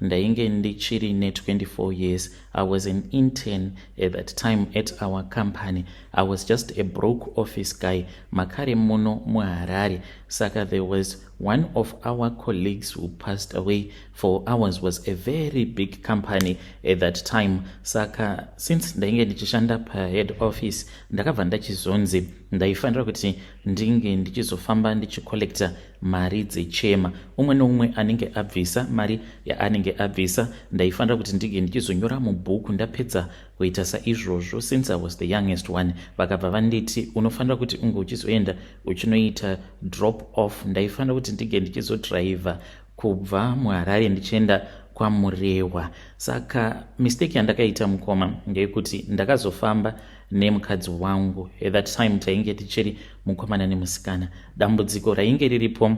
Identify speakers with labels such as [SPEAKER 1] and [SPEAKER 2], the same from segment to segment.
[SPEAKER 1] ndainge ndichiri ne24 years i was an intern at that time at our company i was just a broke office guy makare muno muharare saka there was one of our colleagues who passed away for ours was a very big company at that time saka since ndainge ndichishanda pahead office ndakabva ndachizonzi ndaifanira kuti ndinge ndichizofamba ndichicollecta mari dzechema umwe neumwe anenge abvisa mari yaanenge abvisa ndaifanira kuti ndinge ndichizonyora mubhuku ndapedza kuita saizvozvo since i was the youngest one vakabva vanditi unofanira kuti unge uchizoenda uchinoita drop off ndaifanira kuti ndinge ndichizodhiraivha kubva muharare ndichienda kwamurehwa saka mistake yandakaita mukoma ngeyekuti ndakazofamba nemukadzi wangu at that time tainge tichiri mukomana nemusikana dambudziko rainge riripo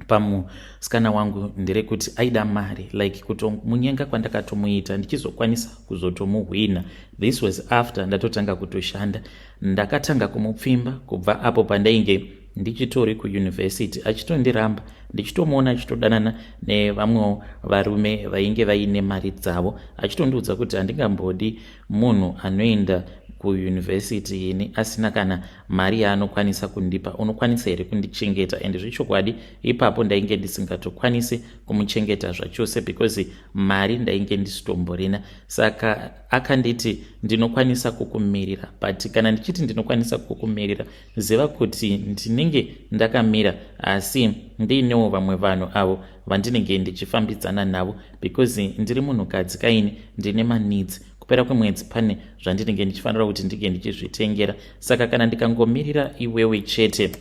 [SPEAKER 1] pamusikana wangu nderekuti aida mari like kutomunyenga kwandakatomuita ndichizokwanisa kuzotomuhwina this was after ndatotanga kutoshanda ndakatanga kumupfimba kubva apo pandainge ndichitori kuyunivhesiti achitondiramba ndichitomuona achitodanana nevamwewo varume vainge vaine mari dzavo achitondiudza kuti handingambodi Munhu anoenda kuuniversity ini asina kana mari yaanokwanisa kundipa unokwanisa here kundichengeta and zvechokwadi ipapo ndainge ndisingatokwanisi kumuchengeta zvachose because mari ndainge ndisitomborina saka akanditi ndinokwanisa kukumirira but kana ndichiti ndinokwanisa kukumirira Ziva kuti ndinenge ndakamira asi ndiinewo vamwe vanhu avo vandinenge ndichifambidzana navo because ndiri munhukadzi kaini ndine maneeds kupera kwemwedzi pane zvandinenge ndichifanira kuti ndinge ndichizvitengera saka kana ndikangomirira iwewe chete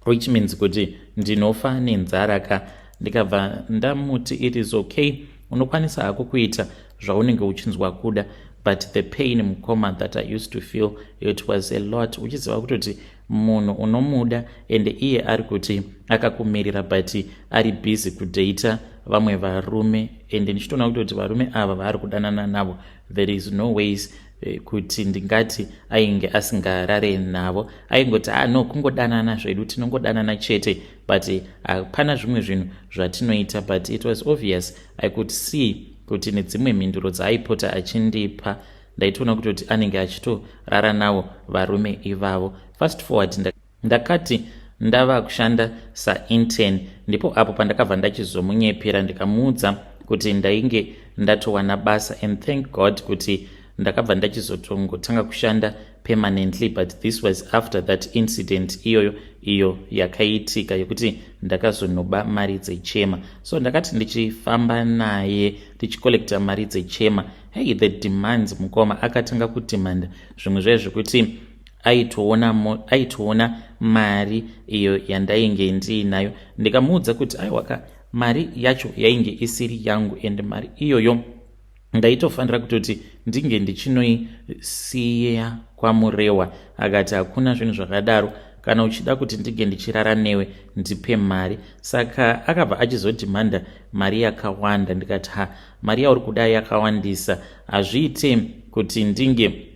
[SPEAKER 1] which means kuti ndinofa nenzara ka ndikabva ndamuti it is okay unokwanisa hako kuita zvaunenge uchinzwa kuda but the pain mukoma that i used to feel it was a lot uchiziva kutoti munhu unomuda ende iye ari kuti akakumirira but ari busy kudata vamwe varume ende ndichitoona kuti kuti varume ava vaari kudanana navo there is no ways eh, kuti ndingati ainge asingarare navo aingoti a ah, no kungodanana zvedu tinongodanana chete but hapana zvimwe zvinhu zvatinoita but it was obvious I could see kuti nedzimwe mhinduro dzaaipota achindipa ndaitoona kutoti anenge achitorara nawo varume ivavo fast forward ndakati nda ndava kushanda sainten ndipo apo pandakabva ndachizomunyepera ndikamuudza kuti ndainge ndatowana basa and thank god kuti ndakabva ndachizotongotanga kushanda permanently but this was after that incident iyoyo iyo yakaitika yekuti ndakazonoba mari dzechema so ndakati ndichifamba naye tichicollecta mari dzechema hey the demands mukoma akatanga kudemanda zvimwe zvaye zvekuti aitoona aitoona mari iyo yandainge ndiinayo ndikamuudza kuti aiwaka mari yacho yainge isiri yangu and mari iyoyo ndaitofanira kutoti ndinge ndichinoisiya kwamurewa akati hakuna zvinhu zvakadaro kana uchida kuti ndinge ndichirara newe ndipe mari saka akabva achizodhimanda mari yakawanda ndikati ha mari yauri kuda yakawandisa hazviite kuti ndinge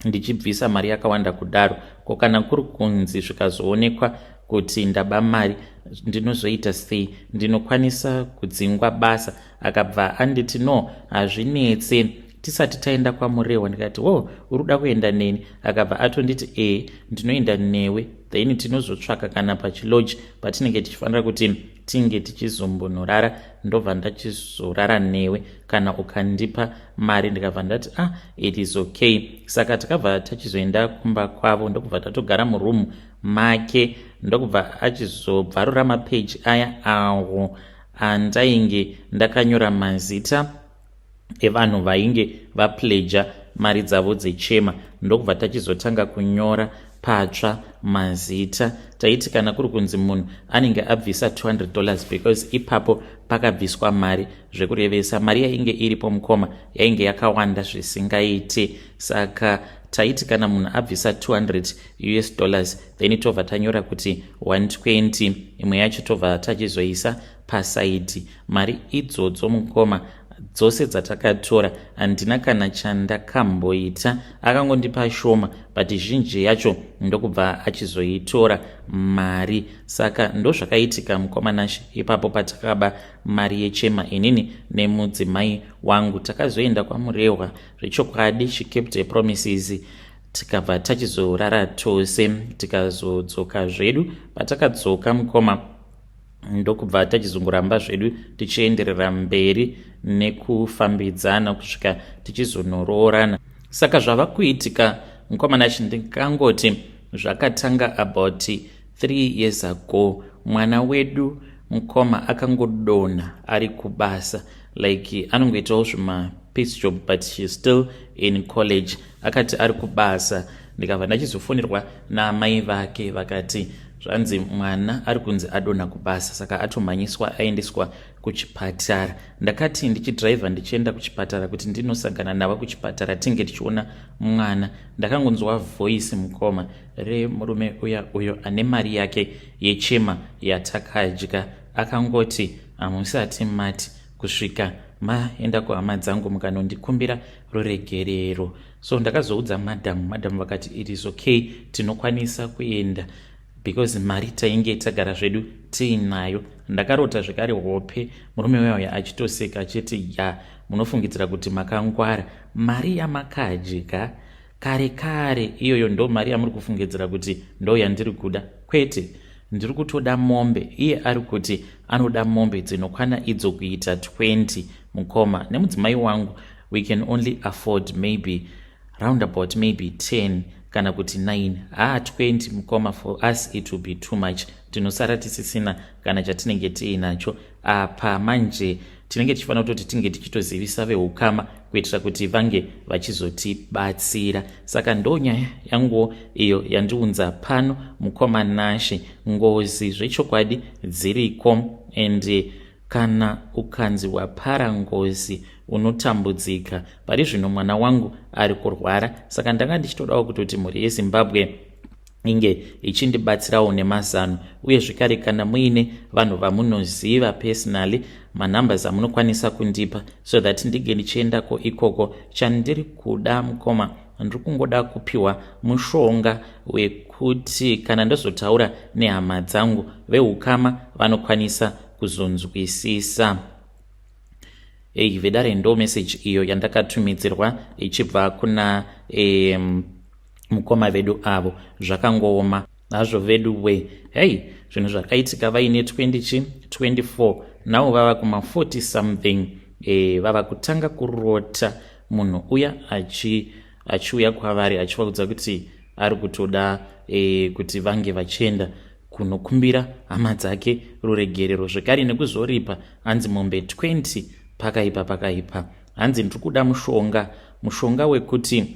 [SPEAKER 1] ndichibvisa mari yakawanda kudaro ko kana kuri kunzi zvikazoonekwa kuti ndaba mari ndinozoita sei ndinokwanisa kudzingwa basa akabva anditi no hazvinetse tisati taenda kwamurehwa ndikati wo oh, uri kuda kuenda neni akabva atonditi ee ndinoenda newe then tinozotsvaka kana pachiloji patinenge tichifanira kuti tinge tichizombonurara ndobva ndachizorara newe kana ukandipa mari ndikabva ndati ah it is okay saka takabva tachizoenda kumba kwavo ndokubva tatogara muroom make ndokubva achizobvarura mapeji aya awo andainge ndakanyora mazita evanhu vainge vapledger mari dzavo dzechema ndokubva tachizotanga kunyora patsva mazita taiti kana kuri kunzi munhu anenge abvisa 200 dollars because ipapo pakabviswa mari zvekurevesa mari yainge iripo mukoma yainge yakawanda zvisingaiti saka taiti kana munhu abvisa 200 us dollars then tobva tanyora kuti 120 imwe yacho tobva tachizoisa pasaidhi mari idzodzo mukoma dzose dzatakatora handina kana chandakamboita akangondipa shoma but zhinji yacho ndokubva achizoitora mari saka ndozvakaitika mukoma nashe ipapo patakaba mari yechema inini nemudzimai wangu takazoenda kwamurehwa zvechokwadi she kept a promises tikabva tachizorara tose tikazodzoka zvedu patakadzoka mukoma ndokubva tachizongoramba zvedu tichienderera mberi nekufambidzana kusvika tichizonoroorana saka zvava kuitika mukomana achi ndikangoti zvakatanga about three years ago mwana wedu mukoma akangodonha ari kubasa like anongoitawo zvima piece job but she's still in college akati ari kubasa ndikabva ndachizofonerwa naamai vake vakati zvanzi mwana ari kunzi adonha kubasa saka atomhanyiswa aendeswa kuchipatara ndakati ndichidhiraivha ndichienda kuchipatara kuti ndinosangana navo kuchipatara tinge tichiona mwana ndakangonzwa voisi mukoma remurume uya uyo ane mari yake yechema yatakadya akangoti hamusati mati kusvika maenda kuhama dzangu mukanondikumbira ruregerero so ndakazoudza madam madam vakati it is okay tinokwanisa kuenda because mari tainge tagara zvedu tiinayo ndakarota zvekare hope murume weuya achitoseka achiti ya munofungidzira kuti makangwara mari yamakadya kare kare iyoyo ndo mari yamuri kufungidzira kuti ndo yandiri kuda kwete ndiri kutoda mombe iye ari kuti anoda mombe dzinokwana idzo kuita 20 mukoma nemudzimai wangu we can only afford maybe roundabout maybe 10 kana kuti 9 haa 20 mukoma for us it will be too much tinosara tisisina kana chatinenge tiinacho apa manje tinenge tichifanira kutoti tinge tichitozivisa veukama kuitira kuti vange vachizotibatsira saka ndo nyaya yanguwo iyo yandiunza pano mukoma nashe ngozi zvechokwadi dziriko and kana ukanzi wapara ngozi unotambudzika pari zvino mwana wangu ari kurwara saka ndanga ndichitodawo kutoti mhuri yezimbabwe inge ichindibatsirawo nemazano uye zvekare kana muine vanhu vamunoziva personally manumbers amunokwanisa kundipa so that ndinge ndichiendako ikoko chandiri kuda mukoma ndiri kungoda kupiwa mushonga wekuti kana ndozotaura nehama dzangu veukama vanokwanisa kuzonzwisisa ei vedare ndo meseji iyo yandakatumidzirwa ichibva kuna um, mukoma vedu avo zvakangooma hazvo vedu we hei zvinhu zvakaitika vaine 20 chi 24 now vava kuma 40 something e, vava kutanga kurota munhu uya achi achiuya kwavari achivaudza kuti ari kutoda e, kuti vange vachienda kunokumbira hama dzake ruregerero zvekare nekuzoripa hanzi mombe 20 pakaipa pakaipa hanzi ndiri kuda mushonga mushonga wekuti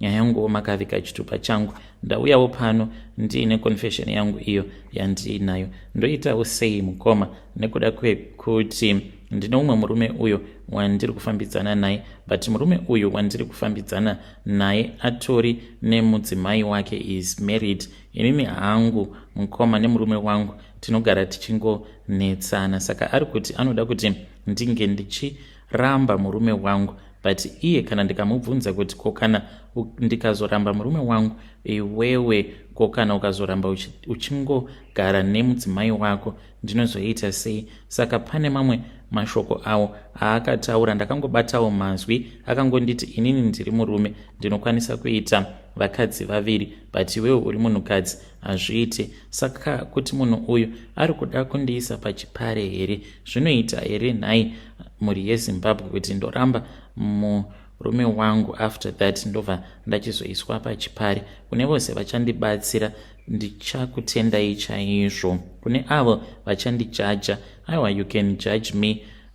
[SPEAKER 1] nyaya yangu makavika chitupa changu ndauyawo pano ndiine confession yangu iyo yandiinayo ndoitawo sei mukoma nekuda kwekuti ndine umwe murume uyo wandiri kufambidzana naye but murume uyo wandiri kufambidzana naye atori nemudzimai wake is married inini hangu mukoma nemurume wangu tinogara tichingonetsana saka ari kuti anoda kuti ndinge ndichi ramba murume wangu but iye kana ndikamubvunza kuti ko kana ndikazoramba murume wangu iwewe ko kana ukazoramba uchingogara nemudzimai wako ndinozoita sei saka pane mamwe mashoko awo aakataura ndakangobatawo mazwi akangonditi inini ndiri murume ndinokwanisa kuita vakadzi vaviri but iwewe uri munhukadzi hazviiti Saka kuti munhu uyu ari kuda kundiisa pachipare here? Zvinoita here nhai mhuri yeZimbabwe kuti ndoramba murume wangu after that ndobva ndachizoiswa pachipare? Kune vose vachandibatsira ndichakutendai chaizvo. Kune avo vachandijaja, aiwa you can judge me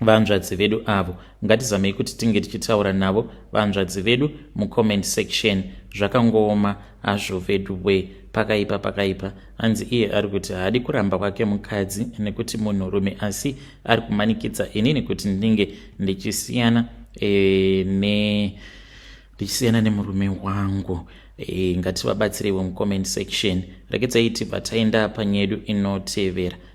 [SPEAKER 1] vanzvadzi vedu avo ngatizamei kuti tinge tichitaura navo vanzvadzi vedu mucomment section zvakangooma hazvo vedu we pakaipa pakaipa hanzi iye ari kuti haadi kuramba kwake mukadzi nekuti munhurume asi ari kumanikidza inini kuti ndinge ndichisiyana e, ne ndichisiyana nemurume wangu e, ngativabatsireiwo mucomment section rekedzai tibva taenda panyedu inotevera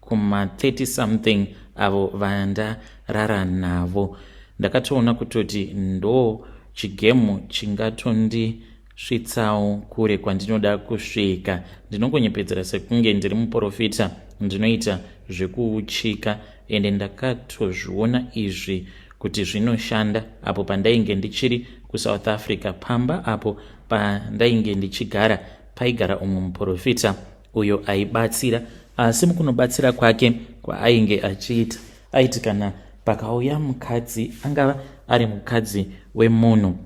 [SPEAKER 1] kuma 30 something avo vandarara navo ndakatoona kutoti ndo chigemu chingatondisvitsawo kure kwandinoda kusvika ndinongonyepedzera sekunge ndiri muporofita ndinoita zvekuuchika ende ndakatozviona izvi kuti zvinoshanda apo pandainge ndichiri kusouth africa pamba apo pandainge ndichigara paigara umwe muporofita uyo aibatsira asi mukunobatsira kwake kwaainge achiita aiti kana pakauya mukadzi angava ari mukadzi wemunhu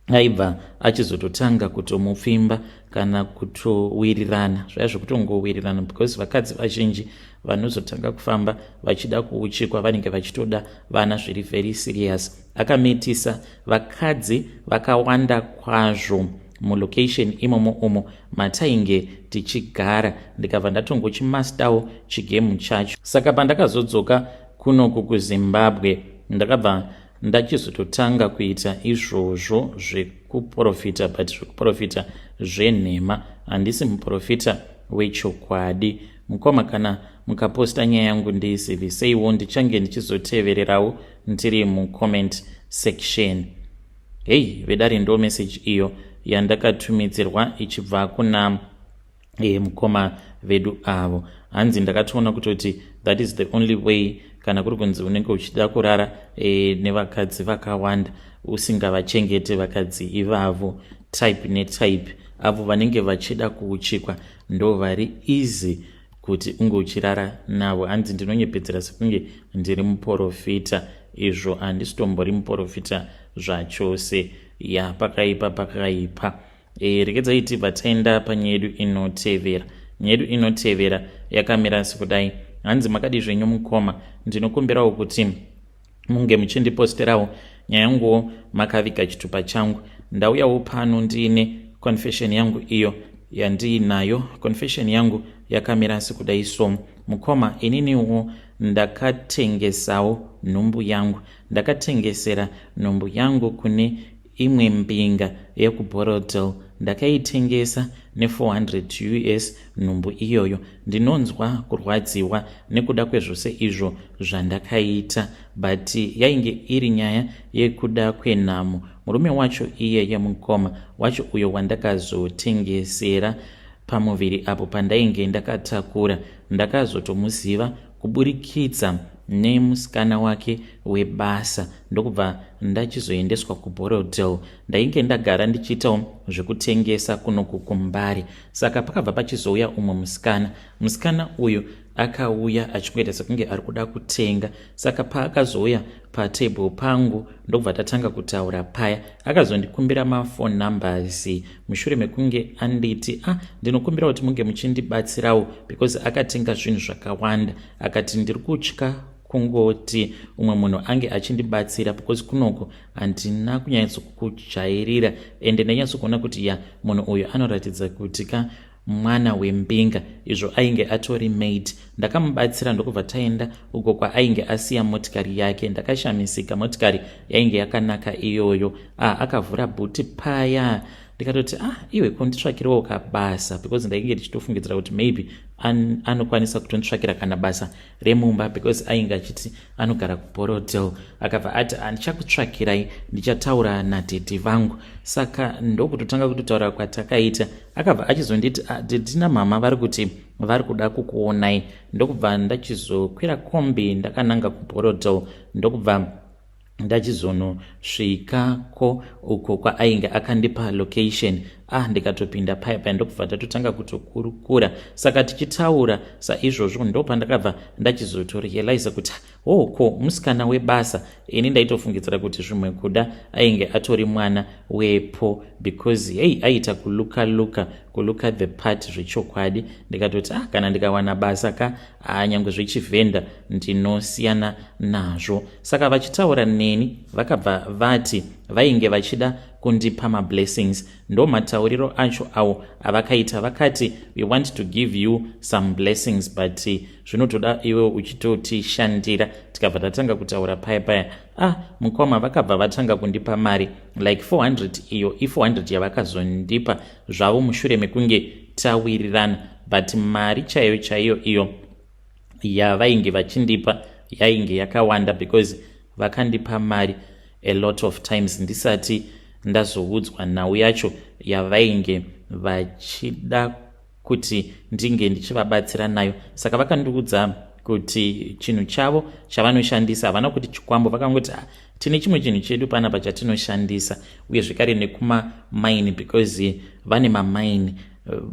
[SPEAKER 1] aibva achizototanga kutomupfimba kana kutowirirana zvaya zvekutongowirirana because vakadzi vazhinji vanozotanga kufamba vachida kuuchikwa vanenge vachitoda vana zviri very serious akamitisa vakadzi vakawanda kwazvo mulocation imomo umo matainge tichigara ndikabva ndatongochimastawo chigemu chacho saka pandakazodzoka kunoku kuzimbabwe ndakabva ndachizototanga kuita izvozvo zvekuprofita but zvekuprofita zvenhema handisi muprofita wechokwadi mukoma kana mukaposta nyaya yangu ndiiziviseiwo ndichange ndichizotevererawo ndiri mucomment section Hey vedare ndo message iyo yandakatumidzirwa ichibva kuna e, mukoma vedu avo hanzi ndakatoona kutoti that is the only way kana kuri kunzi unenge uchida kurara e, nevakadzi vakawanda usingavachengete vakadzi ivavo type netype avo vanenge vachida kuuchikwa ndo vari easy kuti unge uchirara navo hanzi ndinonyepedzera sekunge ndiri muporofita izvo handisitombori muporofita zvachose ya pakaipa pakaipa e, eh, rekedzai tibva taenda panyaya yedu inotevera nyaya yedu inotevera yakamira sekudai hanzi makadi zvenyu mukoma ndinokumbirawo kuti munge muchindiposterawo nyaya yanguwo makaviga chitupa changu ndauyawo pano ndiine confession yangu iyo yandiinayo confession yangu yakamira sekuda iso mukoma ininiwo ndakatengesawo nhumbu yangu ndakatengesera nhumbu yangu kune Imwe mbinga yekuBorrowdale ndakaitengesa ne 400 us nhumbu iyoyo. Ndinonzwa kurwadziwa nekuda kwezvose izvo zvandakaita but yainge iri nyaya yekuda kwenhamo. Murume wacho iyeye mukoma wacho uyo wandakazotengesera pamuviri apo pandainge ndakatakura ndakazotomuziva kuburikidza nemusikana wake webasa ndokubva ndachizoendeswa kuborrowdale ndainge ndagara ndichiitawo zvekutengesa kunoku kumbari saka pakabva pachizouya umwe musikana musikana uyu akauya achingoita sekunge ari kuda kutenga saka paakazouya patable pangu ndokubva tatanga kutaura paya akazondikumbira mafone numbers mushure mekunge anditi a ah, ndinokumbira kuti munge muchindibatsirawo because akatenga zvinhu zvakawanda akati ndiri kutya kungoti umwe munhu ange achindibatsira because kunoko handina kunyatsokujairira ende ndanyatsokuona kuti ya munhu uyu anoratidza kuti ka mwana wembinga izvo ainge atori maid ndakamubatsira ndokubva taenda uko kwaainge asiya motikari yake ndakashamisika motikari yainge yakanaka iyoyo ah akavhura bhuti paya ndikatoti ah iwe konditsvakirawo kabasa because ndainge ndichitofungidzira kuti maybe an, anokwanisa kutonditsvakira kana basa remumba because ainge achiti anogara kuborodel akabva ati andichakutsvakirai ndichataura nadhedhi vangu saka ndokutotanga kutotaura kwatakaita akabva achizonditi ah, didina mama vari kuti vari kuda kukuonai ndokubva ndachizokwira kombi ndakananga kuborodel ndokubva ndachizonosvikako uko kwaainge akandipa location ah ndikatopinda paya paya ndokubva ndatotanga kutokurukura saka tichitaura saizvozvo ndopandakabva ndachizotorealiza kuti Oh ko musikana webasa ini ndaitofungidzira kuti zvimwe kuda ainge atori mwana wepo because hei aiita kuluka luka kuluka the part zvechokwadi ndikatoti ah kana ndikawana basa ka ah nyangwe zvechivhenda ndinosiyana nazvo saka vachitaura neni vakabva vati vainge vachida kundipa mablessings ndo matauriro acho awo avakaita vakati we want to give you some blessings but zvinotoda iwe uchitotishandira tikabva tatanga kutaura paya paya ah mukwama vakabva vatanga kundipa mari like 400 iyo i400 yavakazondipa zvavo mushure mekunge tawirirana but mari chaiyo chaiyo iyo yavainge vachindipa yainge yakawanda because vakandipa mari a lot of times ndisati ndazoudzwa nhau yacho yavainge vachida kuti ndinge ndichivabatsira nayo saka vakandiudza kuti chinhu chavo chavanoshandisa havana kuti chikwambo vakangoti ah, tine chimwe chinhu chedu panapa chatinoshandisa uye zvekare nekumamaini because vane mamaini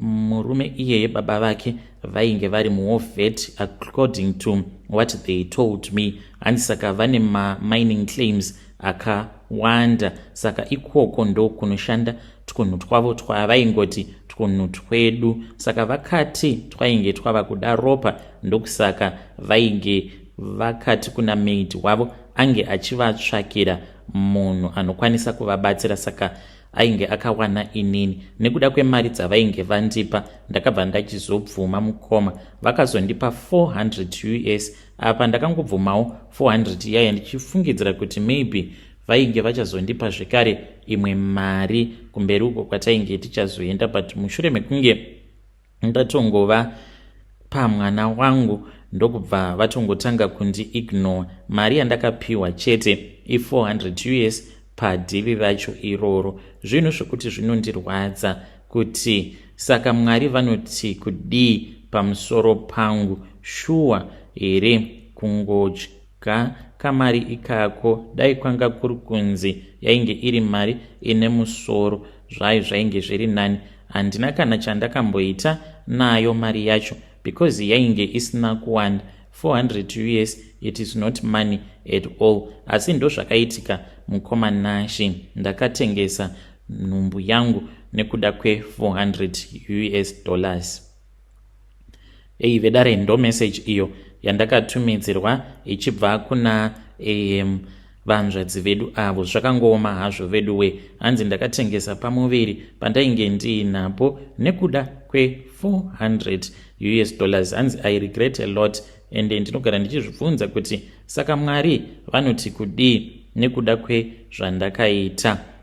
[SPEAKER 1] murume iyeye baba vake vainge vari muovet according to what they told me hanzi saka vane mamining claims akawanda saka ikoko ndokunoshanda twunhu twavo twavaingoti twunhu twedu saka vakati twainge twava kuda ropa ndokusaka vainge vakati kuna maid wavo ange achivatsvakira munhu anokwanisa kuvabatsira saka ainge akawana inini nekuda kwemari dzavainge vandipa ndakabva ndachizobvuma mukoma vakazondipa 400 us apa ndakangobvumawo 400 yaya ndichifungidzira kuti maybe vainge vachazondipa zvekare imwe mari kumberi uko kwatainge tichazoenda but mushure mekunge ndatongova pamwana wangu ndokubva vatongotanga kundi ignore mari yandakapiwa chete i400 us padivi racho iroro zvinhu zvekuti zvinondirwadza kuti saka Mwari vanoti kudii pamusoro pangu shuwa here kungodya kamari ikako dai kwanga kuri kunzi yainge iri mari ine musoro zvayo zvainge zviri nani handina kana chandakamboita nayo mari yacho because yainge isina kuwanda 400 us it is not money at all asi ndozvakaitika mukoma nashe ndakatengesa nhumbu yangu nekuda kwe400 us dollars ei vedare ndo message iyo yandakatumidzirwa ichibva kuna am vanzvadzi vedu avo zvakangooma hazvo vedu we hanzi ndakatengesa pamuviri pandainge ndiinapo nekuda kwe400 us dollars hanzi i regret a lot ende ndinogara ndichizvibvunza kuti saka mwari vanoti kudii nekuda kwezvandakaita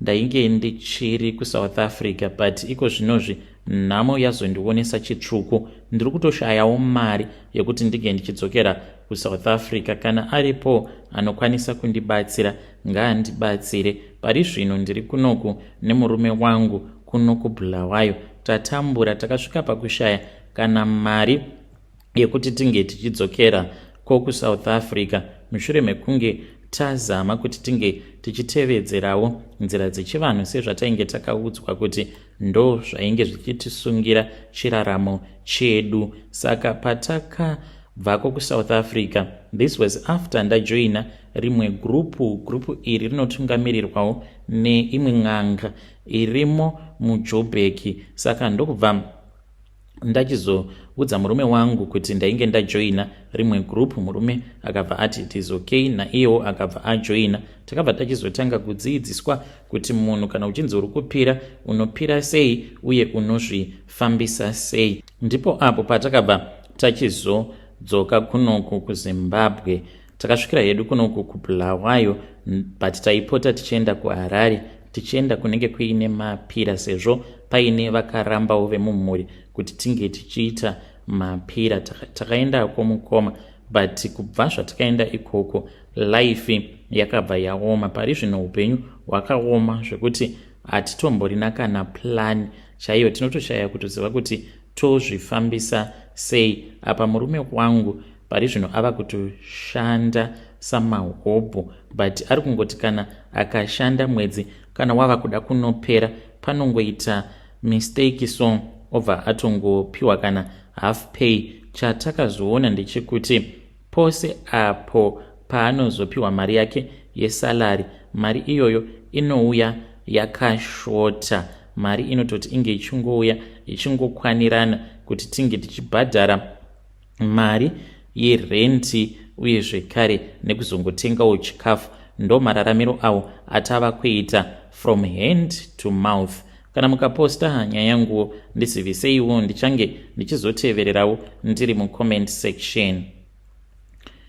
[SPEAKER 1] Ndainge ndichiri kuSouth Africa but iko zvinozvi nhamo yazondionesa chitsvuku. Ndiri kutoshayawo mari yekuti ndinge ndichidzokera kuSouth Africa. Kana aripo anokwanisa kundibatsira ngaandibatsire. Pari zvino ndiri kunoku nemurume wangu kuno kuBulawayo. Tatambura takasvika pakushaya kana mari yekuti tinge tichidzokera ko kusouth africa mushure mekunge tazama kuti tinge tichitevedzerawo nzira dzechivanhu sezvatainge takaudzwa kuti ndo zvainge zvichitisungira chiraramo chedu saka pataka bvako kusouth africa this was after ndajoina rimwe gurupu gurupu iri rinotungamirirwawo neimwe n'anga irimo mujobheki saka ndokubva ndachizoudza murume wangu kuti ndainge ndajoina rimwe group murume akabva ati it is okay naiyewo akabva ajoina takabva tachizotanga kudziidziswa kuti munhu kana uchinzi uri kupira unopira sei uye unozvifambisa sei ndipo apo patakabva tachizodzoka kunoku kuzimbabwe takasvikira hedu kunoku kubulawayo but taipota tichienda kuharare tichienda kunenge kuine mapira sezvo paine vakarambawo vemumhuri kuti tinge tichiita mapira takaendako mukoma but kubva zvatikaenda ikoko life yakabva yaoma pari zvino upenyu hwakaoma zvekuti hatitomborina kana plan chaiyo tinotoshaya kutoziva kuti tozvifambisa sei apa murume wangu pari zvino ava kutoshanda samahobho but ari kungoti kana akashanda mwedzi kana wava kuda kunopera panongoita mistake so obva atongopiwa kana half pay chatakazoona ndechekuti pose apo paanozopiwa mari yake yesalary mari iyoyo inouya yakashota mari inototi inge ichingouya ichingokwanirana kuti tinge tichibhadhara mari yerenti uye zvekare nekuzongotengawo chikafu ndomararamiro awo atava kuita from hand to mouth kana mukaposta nyaya yanguwo ndiziviseiwo ndichange ndichizotevererawo ndiri mucomment section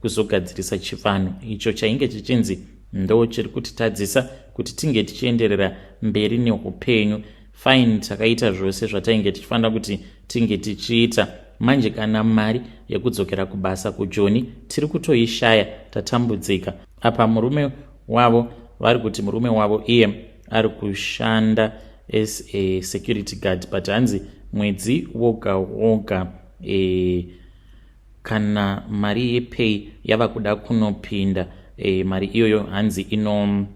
[SPEAKER 1] kuzogadzirisa chivanhu icho chainge chichinzi ndo chiri kutitadzisa kuti tinge tichienderera mberi neupenyu fine takaita zvose zvatainge tichifanira kuti tinge tichiita manje kana mari yekudzokera kubasa kujoni tiri kutoishaya tatambudzika apa murume wavo vari kuti murume wavo iye ari kushanda as a security guard but hanzi mwedzi woga woga e, Kana mari yepay yava kuda kunopinda e, mari iyoyo hanzi ino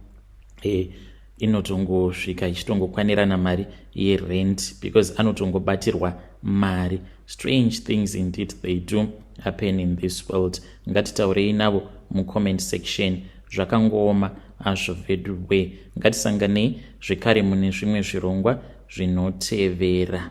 [SPEAKER 1] e, inotongosvika ichitongokwanirana mari yerent because anotongobatirwa mari strange things indeed they do happen in this world ngatitaurei navo mucomment section zvakangooma azvo vedu we ngatisanganei zvekare mune zvimwe zvirongwa zvinotevera